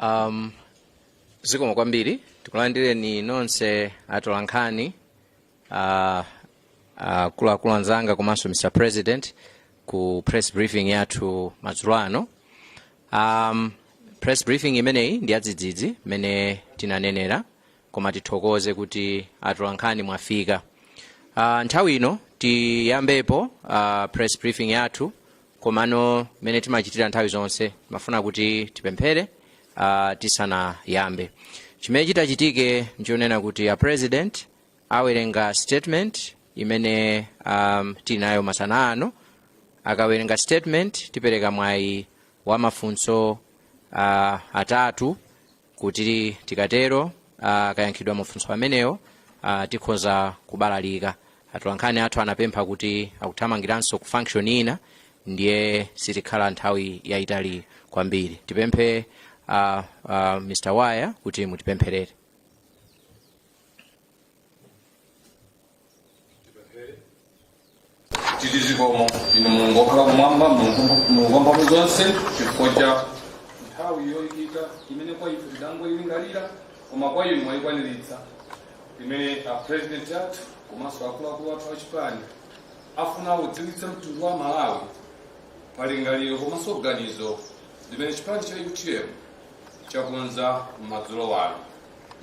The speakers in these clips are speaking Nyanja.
um, zikomo kwambiri tikulandireni nonse atolankhani uh, uh, akuluakulu anzanga komanso mr president ku press briefing yathu madzulo ano um, press briefing imeneyi ndi yadzidzidzi mmene tinanenera koma tithokoze kuti atolankhani mwafika uh, nthawi ino tiyambepo uh, press briefing yathu komano mmene timachitira nthawi zonse timafuna kuti tipemphere uh, tisanayambe chimene chitachitike n'chonena kuti a president awerenga statement imene um, tili nayo masana ano akawerenga statement tipereka mwayi wa mafunso uh, atatu kuti tikatero akayankhidwa mafunso amenewo ah, tikhoza kubalalika atolankhani athu anapempha kuti akuthamangiranso ku function ina ndiye sitikhala nthawi yayitali kwambiri tipemphe ah, ah, mr waya kuti mutipempherere titi zikomo inu mulungu okhala kumwamba mulungu wa mphamvu zonse chifukwa cha nthawi yoyikika imene kwa ife tidangoyilingalira koma kwa inu mwayikwaniritsa imene a president athu komanso akuluakulu athu achipani afuna kudziwitsa mtundu wa amalawi palingaliro komanso ganizo limene chipani cha utm chakonza m'madzulo ano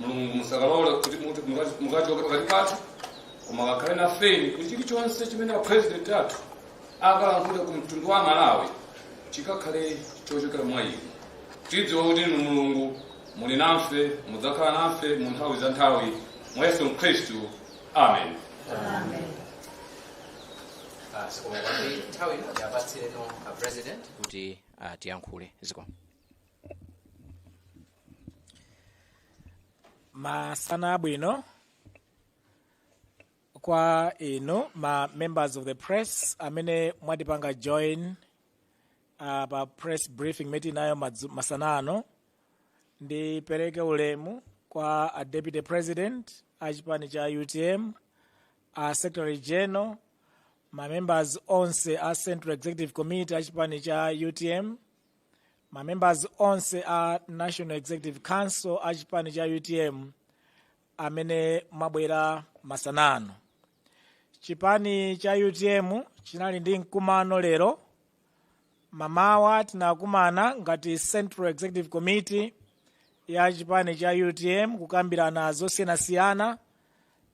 mulungu musakalole kuti muti mukati- mukachoke pakati pathu koma kakhale nafeni kuti chilichonse chimene a president athu akalankhule ku mtundu wa amalawi chikakhale chochokera mwa inu tidziwa kuti inu mulungu muli nafe mudzakhala nafe mu nthawi za nthawi mwa yesu khristu amen Ah, zikomo kwambiri nthawi ino tiapatsireno a president kuti ah, atiyankhule zikomo masana abwino kwa inu ma members of the press amene mwatipanga join uh, pa press briefing imene tinayo madzu- masana ano ndipereke ulemu kwa a deputy president a chipani cha utm a secretary general ma members onse a central executive committee a chipani cha utm mamembers onse a national executive council a chipani cha utm amene mwabwera masana ano chipani cha utm chinali ndi mkumano lero m'mamawa tinakumana ngati central executive committee ya chipani cha utm kukambirana zosiyanasiyana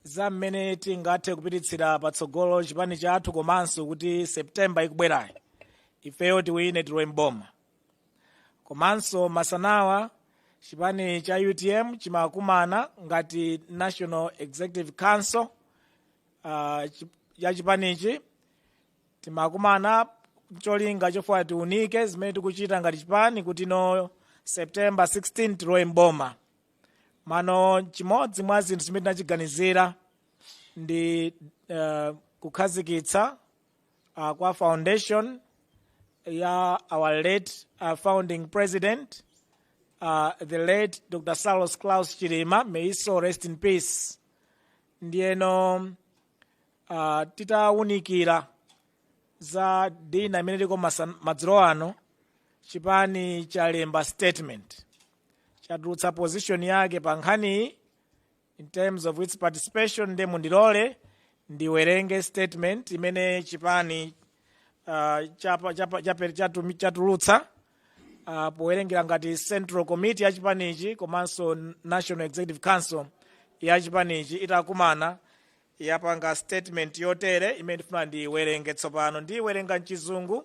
za mmene tingathe kupititsira patsogolo chipani chathu komanso kuti septemba ikubwerayi ifeyo tiwine tilowe mboma komanso masanawa chipani cha utm chimakumana ngati national executive council uh, chi- ya chipanichi timakumana cholinga chofuna tiunike zimene tikuchita ngati chipani kuti mu september 16 tilowe mboma mano chimodzi mwa zinthu zimene tinachiganizira ndi uh, kukhazikitsa uh, kwa foundation ya our late uh, founding president uh, the late dr saulos klaus chilima may his soul rest in peace ndiyeno uh, titawunikira za dinner imene iliko masa- madzulo ano chipani chalemba statement chatulutsa position yake pa nkhaniyi in terms of its participation nde mundilole ndiwerenge statement imene chipani uh, chapa- chapa- chape- chatumi- chatulutsa uh, powerengera ngati central committee ya chipanichi komanso national executive council ya chipanichi itakumana yapanga statement yotere imene ndifuna ndiwerenge tsopano ndiyiwerenga mchizungu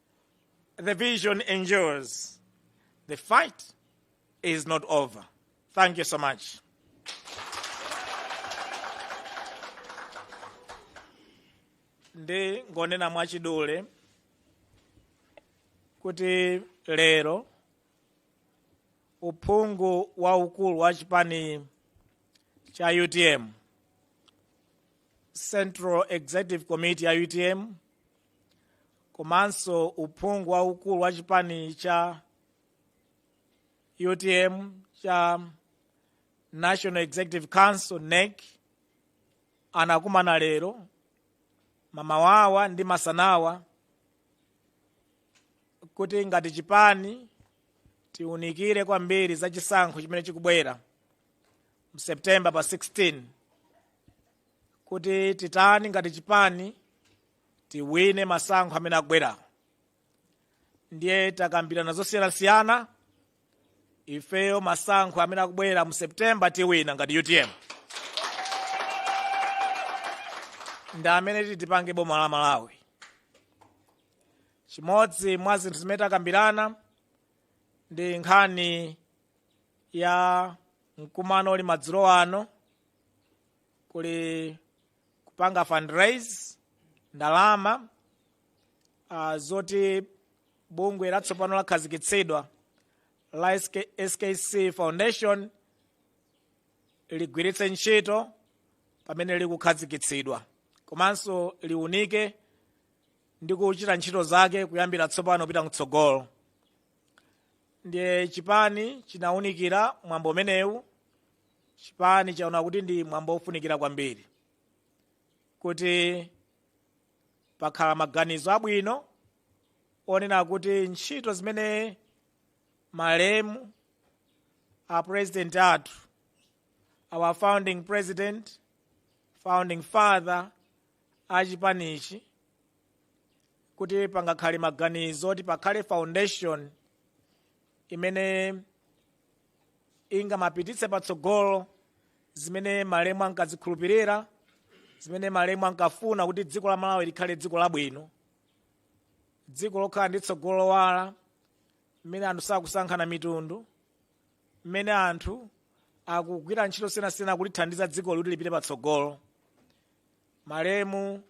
The vision endures. The fight is not over. Thank you so much. ndingonena mwachidule kuti lero uphungu waukulu wa chipani cha utm central executive committee ya utm komanso uphungu waukulu wa chipani cha utm cha national executive council nec anakumana lero mamawawa ndi masanawa kuti ngati chipani tiunikire kwambiri za chisankho chimene chikubwera mu september pa 16 kuti titani ngati chipani tiwine masankho amene akubwera ndiye takambirana zosiyanasiyana ifeyo masankho amene akubwera mu septemba tiwina ngati utm ndi amene titipange boma la malawi chimodzi mwa zinthu zimene takambirana ndi nkhani ya mkumano uli madzulo ano kuli kupanga fundraise ndalama uh, zoti bungwe latsopano lakhazikitsidwa la SK, skc foundation ligwiritse ntchito pamene likukhazikitsidwa komanso liunike ndi kuchita ntchito zake kuyambira tsopano kupita mtsogolo ndiye chipani chinaunikira mwambo umenewu chipani chaona kuti ndi mwambo wofunikira kwambiri kuti pakhala maganizo abwino onena kuti ntchito zimene malemu a president athu our founding president founding father a chipanichi kuti pangakhale maganizo oti pakhale foundation imene ingamapititse patsogolo zimene malemu ankazikhulupirira zimene malemu ankafuna kuti dziko la malawi likhale dziko labwino dziko lokhala ndi tsogolo lowala mmene anthu sakusankhana mitundu mmene anthu akugwira ntchito siyanasiyana kulithandiza dziko kuti lipite patsogolo malemu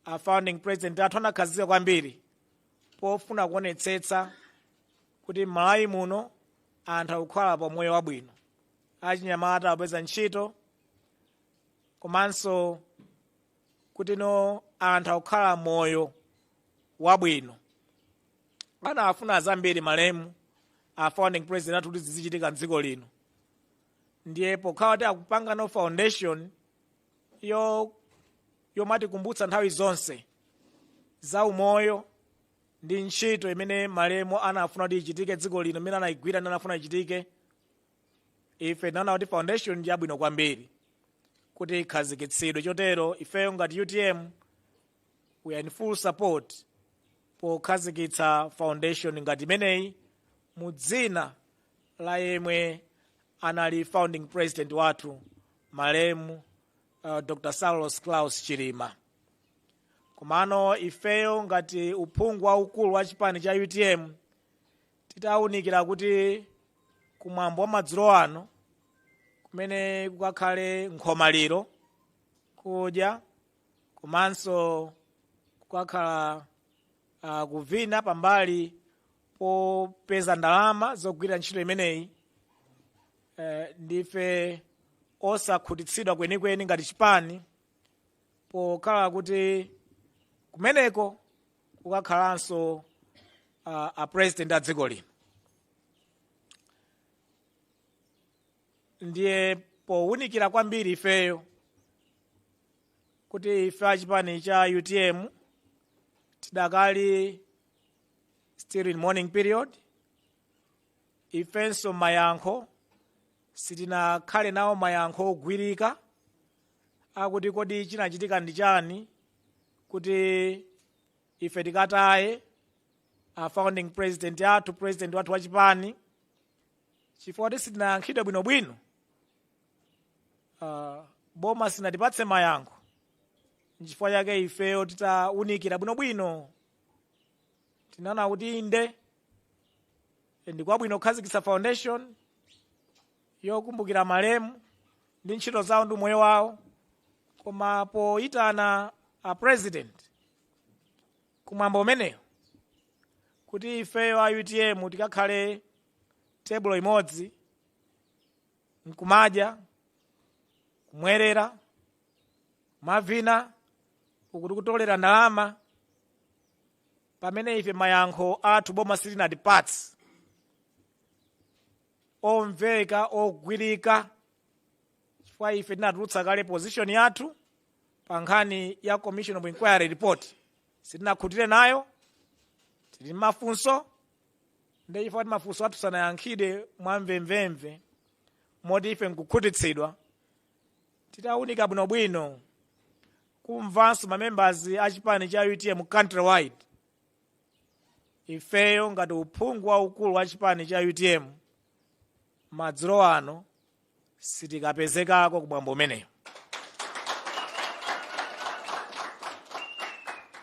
a founding president athu anakhazikika kwambiri pofuna kuonetsetsa kuti m'malawi muno anthu akukhala pa moyo wabwino achinyamata akupeza ntchito komanso kuti no anthu akukhala moyo wabwino anaafuna zambiri malemu a founding president athu kuti zizichitika mdziko lino ndiye pokhala kuti akupangano foundation yo yomatikumbutsa nthawi zonse za umoyo ndi ntchito imene malemu anafuna kuti ichitike dziko lino imene anayigwira ndi anafuna ichitike ife tinaona kuti foundation ndi yabwino kwambiri kuti ikhazikitsidwe chotero ifeyo ngati utm we are in full support pokhazikitsa foundation ngati imeneyi mu dzina la yemwe anali founding president wathu malemu uh, dr saulos klaus chilima komano ifeyo ngati uphungu waukulu wa chipani cha utm titawunikira kuti kumwambo wa madzulo ano kumene kukakhale nkhomaliro kudya komanso kukakhala uh, kuvina pambali popeza ndalama zogwirira ntchito imeneyi eh, ndife osakhutitsidwa kwenikweni ngati chipani pokhala kuti kumeneko kukakhalanso uh, a president a dziko lino ndiye powunikira kwambiri ifeyo kuti ife achipani cha utm tidakali still in mourning period ifenso mayankho sitinakhale nawo mayankho ogwirika akuti kodi chinachitika ndi chani kuti ife tikataye a founding president athu president athu achipani chifukwa kuti sitinayankhidwe bwinobwino uh, boma silinatipatse mayankho nchifukwa chake ifeyo titaunikira bwinobwino tinaona kuti inde ndi kwabwino kukhazikitsa foundation yokumbukira malemu ndi ntchito zawo ndi umoyo wawo koma poyitana a president kumwambo umenewo kuti ifeyo a utm tikakhale tebulo imodzi nkumadya kumwerera kumavina uku tikutolera ndalama pamene ife mayankho athu boma silinatipatse omveka ogwirika chifukwa ife tinatulutsa kale position yathu pa nkhani ya commission of inquiry report sitinakhutire nayo tili ndi mafunso ndiye chifukwa choti mafunso athu sanayankhidwe mwamvemvemve moti ife nkukhutitsidwa titaunika bwinobwino kumvanso mamembers a chipani cha utm countrywide ifeyo ngati uphungu waukulu wa chipani cha utm madzulo ano sitikapezekako ku mwambo umenewo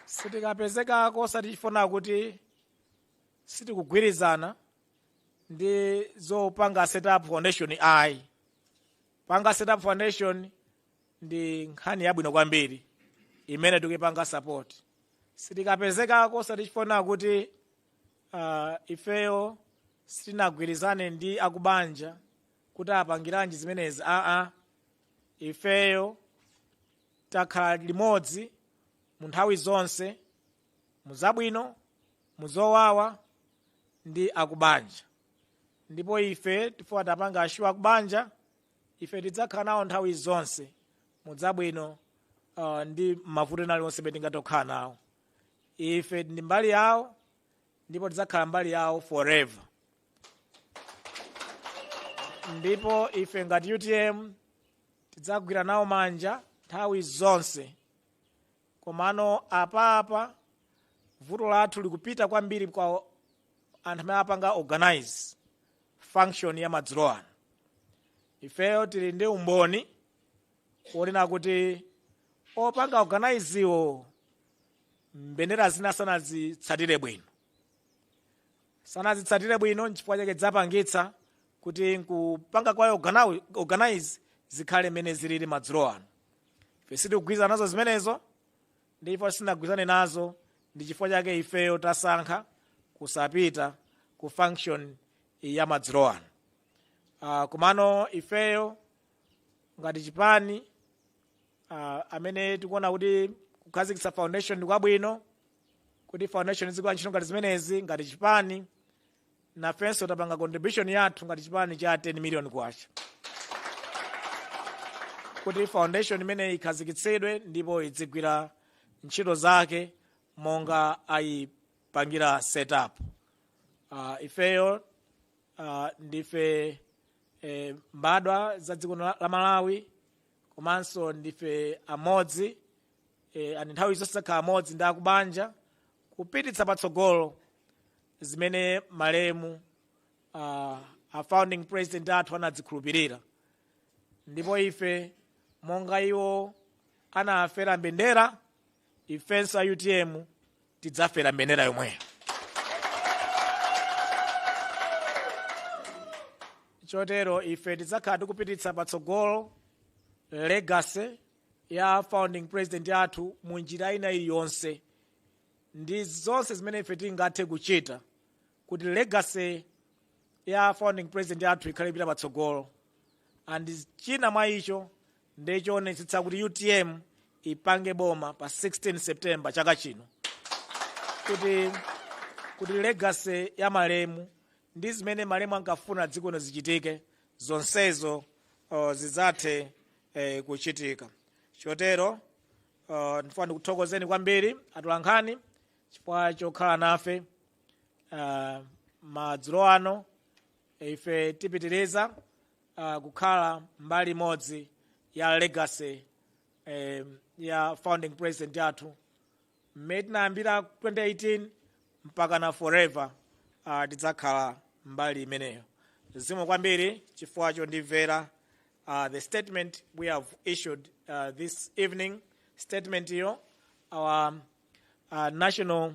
sitikapezekako osati chifukwa kuti sitikugwirizana ndi zopanga set up foundation ayi kupanga set up foundation ndi nkhani yabwino kwambiri imene tikuyipanga support sitikapezekako osati chifukwa kuti uh, ifeyo sitinagwirizane ndi akubanja kuti apangiranji zimenezi aa ifeyo takhala limodzi mu nthawi zonse mu zabwino mu zowawa ndi akubanja ndipo ife tifuna tawapanga assure akubanja ife tidzakhala nawo nthawi zonse mu zabwino uh, ndi mavuto ena aliwonse amene tingatokhala nawo ife ndi mbali yawo ndipo tidzakhala mbali yawo forever ndipo ife ngati utm tidzagwira nawo manja nthawi zonse komano apapa vuto lathu likupita kwambiri kwa anthu amene apanga organize function ya madzulo ano ifeyo tili ndi umboni wonena kuti opanga organize-wo mbendera zina sanazitsatire bwino sanazitsatire bwino nchifukwa chake zapangitsa kuti nkupanga kwawo organi- organize zikhale mmene zilili madzulo ano ife sitikugwirizana nazo zimenezo ndipo sitinagwirizane nazo ndi chifukwa chake ifeyo tasankha kusapita ku function ya madzulo ano uh, komano ifeyo ngati chipani uh, amene tikuona kuti kukhazikitsa foundation ndi kwabwino kuti foundation idzigwira ntchito ngati zimenezi ngati chipani nafenso tapanga contribution yathu ngati chipani cha 10 million kwacha kuti foundation imeneyi ikhazikitsidwe ndipo idzigwira ntchito zake monga ayipangira setup uh, ifeyo uh, ndife eh, mbadwa za dziko la la malawi komanso ndife amodzi e, and nthawi zonse takhala amodzi ndi akubanja kupititsa patsogolo zimene malemu uh, a founding president athu anadzikhulupirira ndipo ife monga iwo anafera mbendera ifenso a utm tidzafera mbendera yomweyo chotero ife tidzakhala tikupititsa patsogolo legacy ya founding president athu mu njira ina iliyonse ndi zonse zimene ife tingathe kuchita kuti legacy ya founding president yathu ikhale ipita patsogolo and china mwa icho ndi choonetsetsa kuti utm ipange boma pa 16 september chaka chino kuti kuti legacy ya malemu ndi zimene malemu ankafuna dziko lino zichitike zonsezo uh, zidzathe eh, kuchitika chotero uh, ndifuna ndikuthokozeni kwambiri atolankhani chifukwa chokhala nafe uh, madzulo ano ife tipitiriza uh, kukhala mbali imodzi ya legacy eh, ya founding president wathu mmene tinayambira 2018 mpaka na forever uh, tidzakhala mbali imeneyo zikomo kwambiri chifukwa chondimvera uh, the statement we have issued uh, this evening statement iyo our uh, national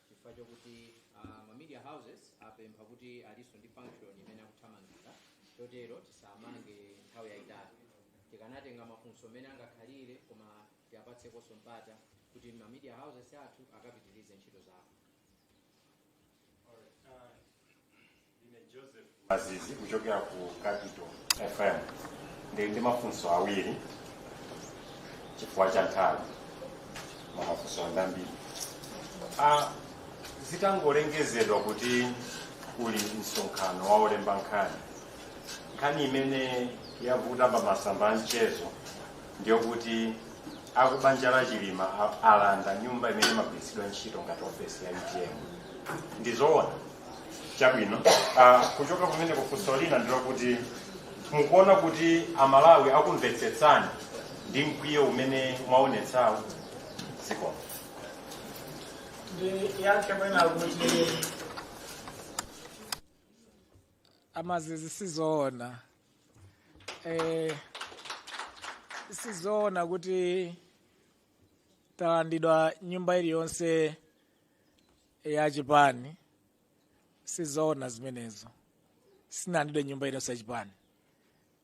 chifukwa chokuti uh, ma media houses apempha kuti alinso ndi function imene akuthamangira chotero tisatenge nthawi yayitali tikanatenga mafunso amene angakhalire koma tiapatsekonso mpata kuti ma media houses athu akapitirize ntchito zawo All right. Uh, Ndine Joseph Mazizi kuchokera ku Capital FM. Ndili ndi mafunso awiri chifukwa cha nthawi koma mafunso anga ambiri. Ah, zitangolengezedwa kuti kuli msonkhano wa olemba nkhani nkhani imene yavuta pa masamba a mchezo ndi yokuti akubanja la chilima a- alanda nyumba imene imagwiritsidwa ntchito ngati ofesi ya utm ndizoona chabwino uh, kuchoka kumeneko funso lina ndilokuti mukuona kuti amalawi akumvetsetsani ndi mkwiyo umene mwaonetsawu zikomo ndiyankhe mwina kuti a Mazizi sizoona eh, sizoona kuti talandidwa nyumba iliyonse ya chipani sizoona zimenezo sinalandidwe nyumba iliyonse ya chipani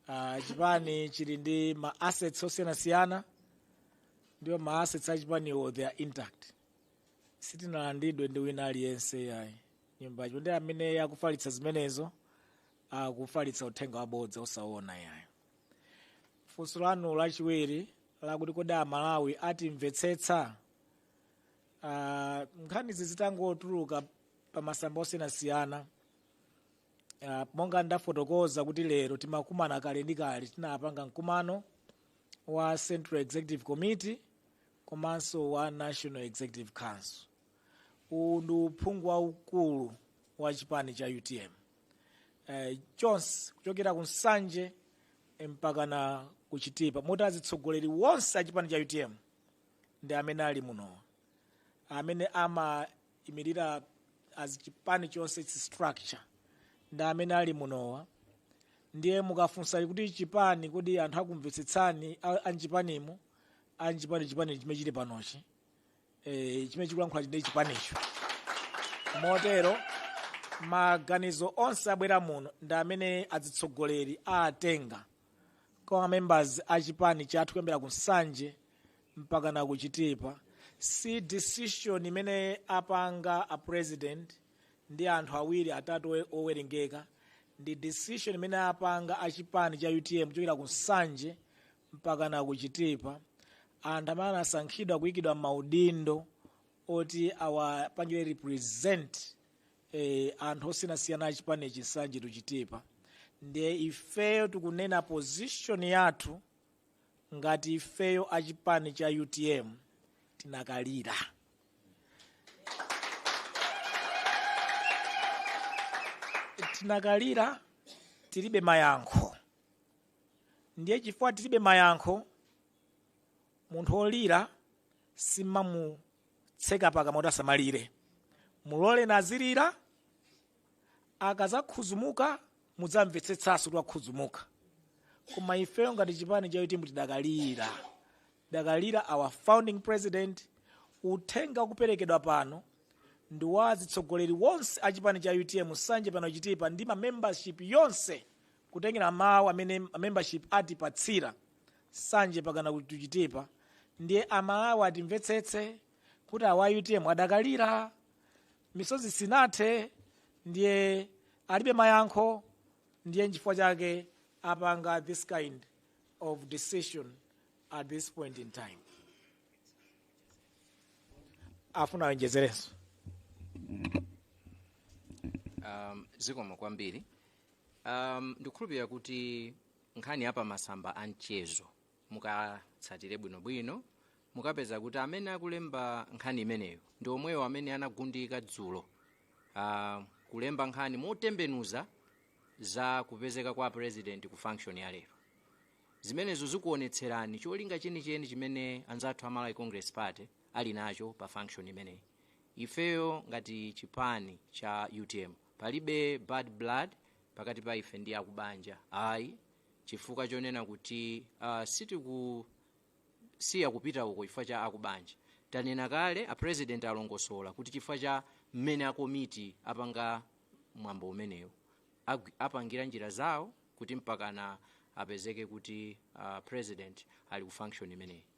uh, chipani chili ndi ma assets osiyanasiyana ndipo ma assets a chipaniwo they are intact sitinalandidwe ndi wina aliyense yayi nyumbayo choncho ndi amene akufalitsa zimenezo akufalitsa uthenga wabodza osaoona yayi funso lanu lachiwiri lakuti kodi amalawi atimvetsetsa Ah, nkhanizi zitangotuluka pa masamba osiyanasiyana ah, monga ndafotokoza kuti lero timakumana kale ndi kale tinapanga mkumano wa central executive committee komanso wa national executive council uwu ndi uphungu waukulu wa chipani cha utm eh, chonse kuchokera ku nsanje mpakana ku chitipa moti azitsogoleri wonse a chipani cha utm ndi amene ali munowa amene amayimirira as chipani chonse its structure ndi amene ali munowa ndiye mukafunsa kuti chipani kodi anthu akumvetsetsani a- anchipanimo anchipani chipani chimene chili panochi eh, chimene chikulankhula ndi chipanicho motero maganizo onse abwera muno ndi amene azitsogoleri atenga kwa mamembers a chipani chathu kuyambira ku nsanje mpaka na ku chitipa si decision imene apanga a president ndi anthu awiri atatu owe- owerengeka ndi decision imene apanga a chipani cha utm kuchokera ku nsanje mpaka na ku chitipa anthu amene anasankhidwa kuyikidwa m'maudindo oti awapangire represent e, anthu osiyanasiyana a chipani chinsanje to chitipa ndiye ifeyo tikunena position yathu ngati ifeyo a chipani cha utm tinakalira tinakalira tilibe mayankho ndiye chifukwa tilibe mayankho munthu olira simamu tseka pakamwa kuti asamalire mulole azilira akadzakhuzumuka mudzamvetsetsanso kuti wakhuzumuka koma ifeyo ngati chipani cha utm tidakalira tidakalira our founding president uthenga ukuperekedwa pano ndi wa azitsogoleri onse a chipani cha utm nsanje mpakana chitipa ndi ma membership yonse kutengera mawu amene ma membership atipatsira nsanje mpakana ku chitipa ndiye amalawi atimvetsetse kuti awa utm adakalira misozi sinathe ndiye alibe mayankho ndiye nchifukwa chake apanga this kind of decision at this point in time afuna awonjezerenso um, zikomo kwambiri um, ndikukhulupirira kuti nkhani ya pamasamba a mchezo mukatsatire bwinobwino mukapeza kuti amene akulemba nkhani imeneyo ndi omweyo amene anagundika dzulo uh, kulemba nkhani motembenuza za kupezeka kwa a president ku function ya lero zimenezo zikuonetserani cholinga chenicheni chimene anzathu a malawi congress party ali nacho pa function imeneyi ifeyo ngati chipani cha utm palibe bad blood pakati pa ife ndi akubanja ayi chifukwa chonena kuti uh, sitikusiya kupita uko chifukwa cha akubanja tanena kale a president alongosola kuti chifukwa cha mmene akomiti apanga mwambo umenewu agwi- apangira njira zawo kuti mpakana apezeke kuti uh, president ali ku function imeneyi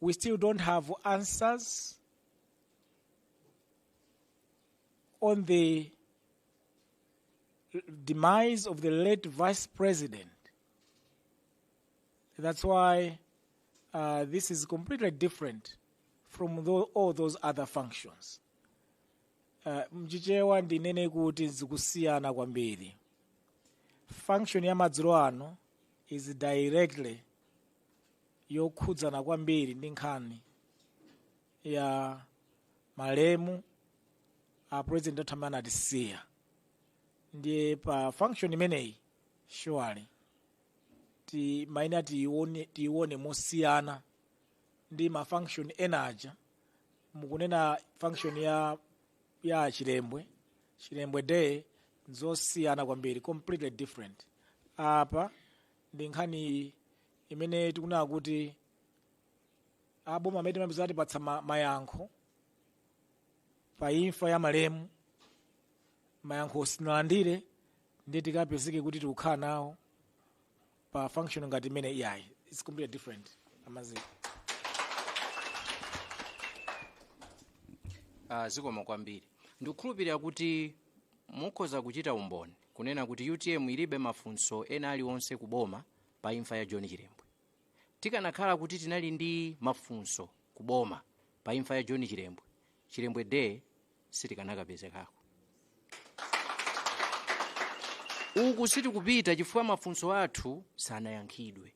we still don't have answers on the demise of the late vice president. That's why uh, this is completely different from tho- all those other functions. Uh, mchichewa ndinene kuti zikusiyana kwambiri function ya madzulo ano is directly yokhudzana kwambiri ndi nkhani ya malemu a president athu amene anatisiya ndiye pa function imeneyi surely timayenera tiione tiione mosiyana ndi ma function ena aja mukunena function ya ya chilembwe chilembwe day nzosiyana kwambiri completely different apa ndi nkhani imene tikunena kuti aboma amene timapempha atipatse ma- mayankho pa imfa ya malemu mayankho sitinalandire ndiye tikapezeke kuti tikukhala nawo pa function ngati imene iyayi its completely different amaziko uh, zikomo kwambiri ndikukhulupirira kuti mukhoza kuchita umboni kunena kuti utm ilibe mafunso ena aliwonse ku boma pa imfa ya john chilembwe tikanakhala kuti tinali ndi mafunso ku boma pa imfa ya john chilembwe chilembwe day sitikanakapezekako uku sitikupita chifukwa mafunso athu sanayankhidwe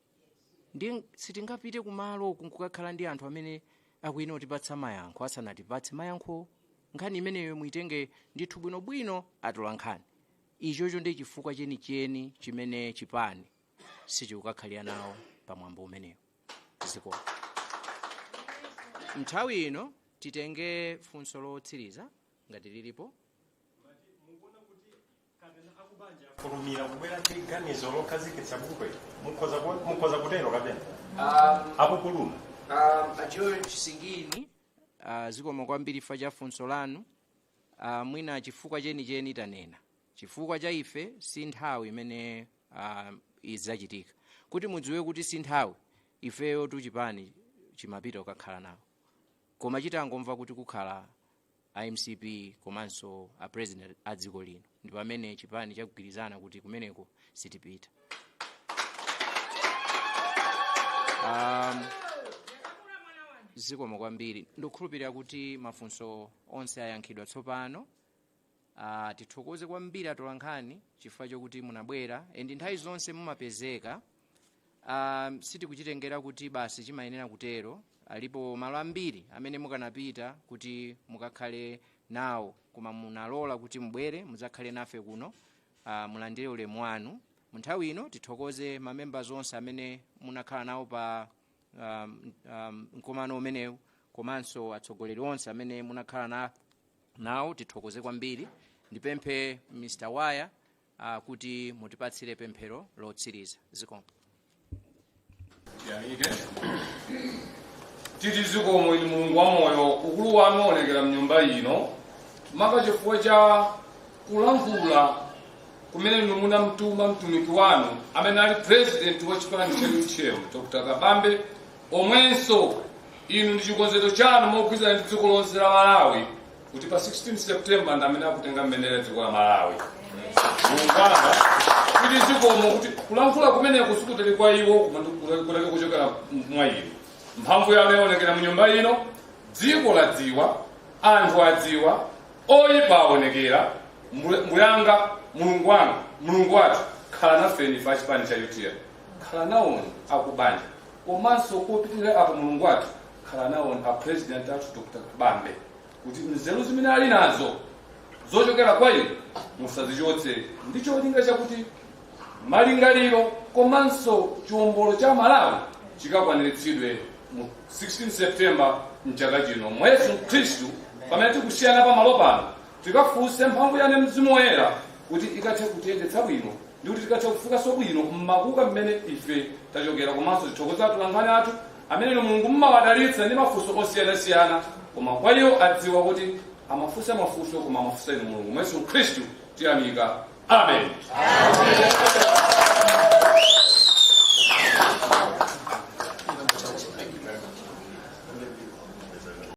ndiye sitingapite kumalo uku nkukakhala ndi anthu amene akuyenera kutipatsa mayankho asanatipatse mayankho nkhani imeneyo muitenge ndithu bwinobwino atolankhani ichocho ndi chifukwa chenicheni chimene chipani sichikukakhalira nawo pa mwambo umenewo zikomo nthawi ino titenge funso lotsiriza ngati lilipo fulumira kubwera ndi ganizo lokhazikitsa bungwe mukhoza ku- mukhoza kutero kapena Um, akupupuluma um, a George Singini, uh, zikomo kwambiri chifukwa cha funso lanu. Uh, mwina chifukwa chenicheni tanena chifukwa cha ife si nthawi imene uh, idzachitika kuti mudziwe kuti si nthawi ifeyo kuchipani timapita kukakhala nawo koma chitangomva kuti kukhala a mcp komanso a president a dziko lino ndi pamene chipani chagwirizana kuti kumeneko sitipita um, zikomo kwambiri ndikukhulupirira kuti mafunso onse ayankhidwa tsopano Aaa tithokoze kwambiri atolankhani chifukwa chokuti munabwera and nthawi zonse mumapezeka Aaa sitikuchitengera kuti basi chimayenera kutero alipo malo ambiri amene mukanapita kuti mukakhale nawo koma munalola kuti mubwere mudzakhale nafe kuno Aaa mulandire ulemu wanu munthawi ino tithokoze ma members onse amene munakhala nawo pa um, um, mkumano umenewu komanso atsogoleri onse amene munakhala na nawo tithokoze kwambiri ndipemphe mr waya uh, kuti mutipatsire pemphero lotsiriza zikomo tiyamike titi zikomo inu mulungu wa moyo ukulu wanu waonekera mnyumba ino maka chifukwa cha kulankhula kumene inu munamtuma mtumiki wanu amene ali president wa chipani cha utm dr kabambe omwenso inu ndi chikonzero chanu mogwirizana ndi dziko lonse la malawi kuti pa 16 september ndi amene akutenga mbendera ya dziko la malawi mulungu wanga tikuti zikomo kuti kulankhula kumeneko sikunali kwa iwo koma ndi- kunali kuchokera mwa inu mphamvu yanu yaonekera mu nyumba ino dziko ladziwa anthu adziwa oyipa aonekera mbuyanga mulungu wanga mulungu wathu khala nafeni pa chipani cha utm khala nawoni akubanja komanso kopitirira apo mulungu wathu khala nawoni a president athu dr kabambe kuti nzeru zimene ali nazo zochokera kwa inu musazichotse ndi cholinga chakuti malingaliro komanso chiwombolo cha malawi chikakwaniritsidwe mu 16 september mchaka chino mwa yesu khristu pamene tikusiyana pamalo pano Tikafunse mphamvu yanu Mzimu Woyera kuti ikathe kutiyendetsa bwino ndi kuti tikathe kufikanso bwino m'makuka mmene ife tachokera komanso tithokoza atolankhani athu amene inu Mulungu mmawadalitsa ndi mafunso osiyanasiyana koma kwa iwo adziwa kuti amafunsa mafunso koma amafunsa inu Mulungu mwa Yesu Khristu tiyamika amen, amen.